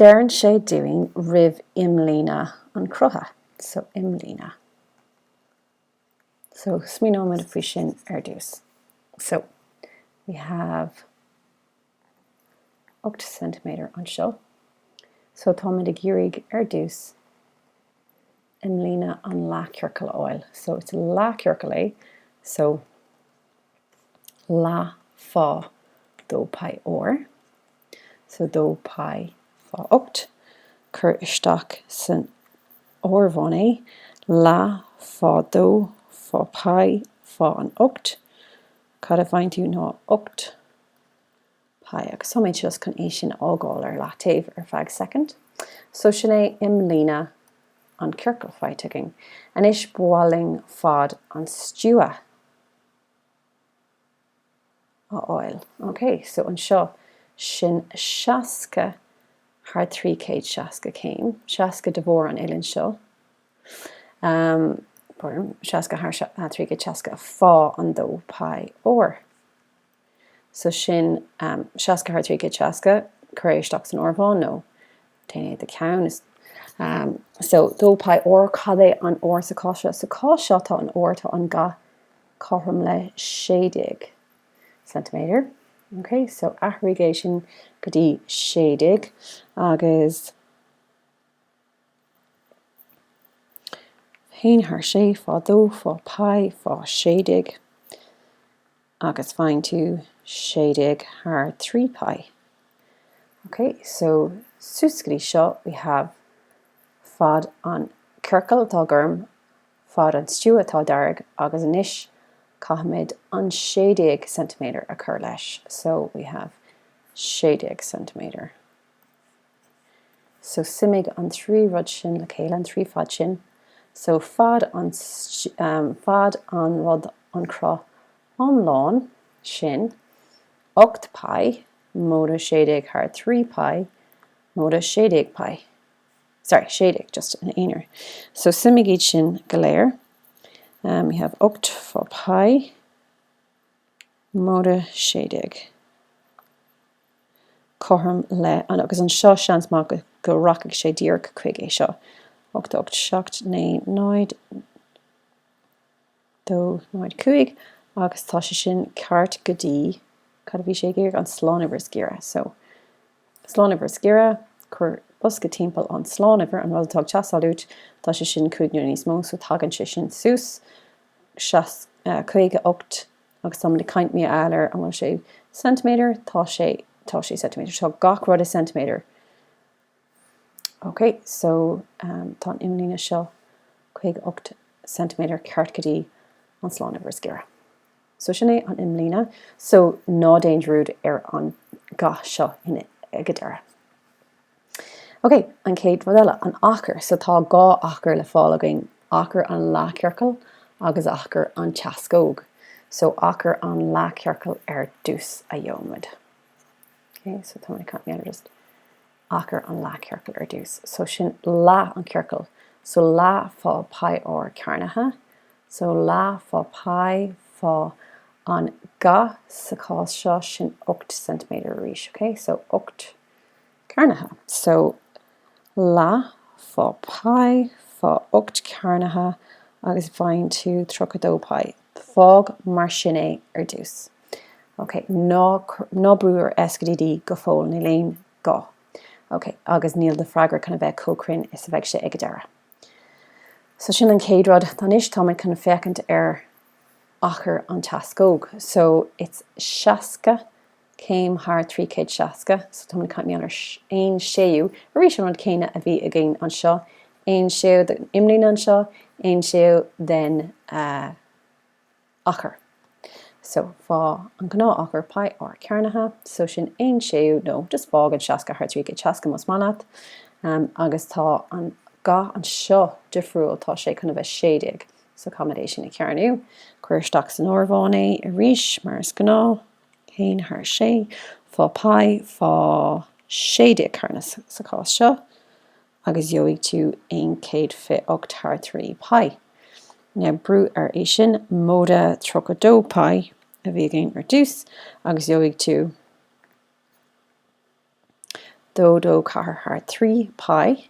Deireann sé dúinn ríomh imlíne an chrutha. So, imlíne. So, smaoineoimid faoi sin ar dtús. So, we have 8 cm anseo. So, táimid ag iarraidh ar dtús imlíne an leathchiorcail a fháil. So is leathchiorcal é, so leath fá dó pi r. So dó pi fá ocht. Cuir isteach san áireamhán é, leath fá dó fá pi fá an ocht. Cad a fhaigheann tú ná ocht. Pi, agus táimid just chun é sin a fhágáil ar leataobh ar feadh soicind. So, sin é imlíne an chiorcail faighte againn. Anois, ba mhaith linn fad an stua a fháil. OK, so anseo, sin 60 thar 360 céim, 60 de bharr an uillinn seo, ahem, pardon, 60 thar 360 fá an 2πr. so sin seasca thar trí chéad seasca, cuir é isteach san áireamhán nó déan é i do cheann. so dó pi r cad é an r sa chás seo? Sa chás seo tá an r, tá an ga cothrom le sé déag ceintiméadar, ok, so athraigh é sin go dtí sé déag agus. haon thar sé fá dó fá pi fá sé déag agus faigheann tú sé déag thar trí pi. Ok, so suas go dtí seo we have fad an ciorcail atá gorm, fad an stua atá dearg agus anois caithfimid an sé déag ceintiméadar a chur leis, so we have sé déag ceintiméadar. So suimigh an trí rud sin le chéile, an trí fad sin. So fad an, fad an rud, an cruth iomlán sin, 8 πi, móide 6 déag thar 3 pi, móide 6 déag pi. Sorry, 6 déag just ina aonar. So suimigh iad sin go léir. We have 8 pi móide 6 déag. cothrom le agus anseo seans maith go go rachaidh sé díreach chuig é seo ocht ocht seacht naoi náid dó náid cúig agus tá sé sin ceart go dtí cad a bhí sé ag iarraidh an slánuimhir is giorra so slánuimhir is giorra cuir bosca timpeall an slánuimhir an rud atá ag teastáil uait tá sé sin cúig nó níos mó so tagann sé sin suas so caoga ocht Agus táimid ag caint mar gheall ar an bhfuil sé ceintiméadar, tá sé, tá sé ceintiméadar, tá gach rud i ceintiméadar. Ok, so um, tá an imlíne seo 58 ceintiméadar ceart go dtí an slánuimhir is giorra. So sin é an imlíne. So ná déan dearúd ar an ga seo in, ag an deireadh. Ok, an chéad rud eile, an achar. So tá dhá achar le fáil againn, achar an leathchiorcail agus achar an teascóg. So achar an leathchiorcail ar dtús a gheobhaidh muid. Ok, so tá mé ag caint just achar an leathchiorcail ar dtús. So sin leath an chiorcail. So leath fá πr cearnaithe. So leath fá π fá an ga sa chás seo sin 8 cm arís. Ok, so 8. cearnaithe. So leath fá pai fá ocht cearnaithe agus faigheann tú tríocha dó pai. Fág mar sin é ar dtús. Ok, ná, ná brú ar S go dtí D go fóill, níl aon gá. Ok, agus níl do freagra chun a bheith chomh cruinn is a bheidh sé ag an deireadh. So sin an chéad rud. Anois táimid chun féachaint ar achar an teascóg. So it's 60 céim thar 360, so táimid caint mar gheall ar aon séú, arís an rud céanna a bhí againn anseo, aon séú den imlíne anseo, aon séú den uh, achar, so, fá, an gnáth-achar pi r cearnaithe, so, sin aon séú, nó, just, fág an seasca thar trí chéad seasca más maith leat, em, agus tá an, ga anseo difriúil, tá sé chun a bheith sé déag, so, caithfimid é sin a chearnú, cuir isteach san áireamhán é arís mar is gnáth, haon thar sé, fá pi, fá, sé déag cearnaithe sa chás seo, agus gheobhaidh tú aon céad fiche ocht thar trí pi. Now brú ar é sin, móide tríocha dó pi a bhí againn ar dtús agus gheobhaidh tú dó dó ceathair thar trí pi.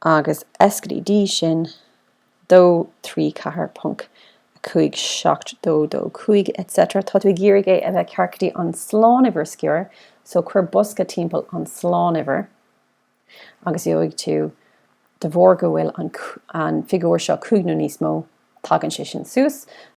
agus S go dtí D sin dó trí ceathair ponc a cúig seacht dó dó cúig et cetera tá tú ag iarraidh é a bheith ceart go dtí an slánuimhir is giorra so cuir bosca timpeall an slánuimhir agus gheobhaidh tú de bharr go bhfuil an an figiúr seo cúig nó níos mó tagann sé sin suas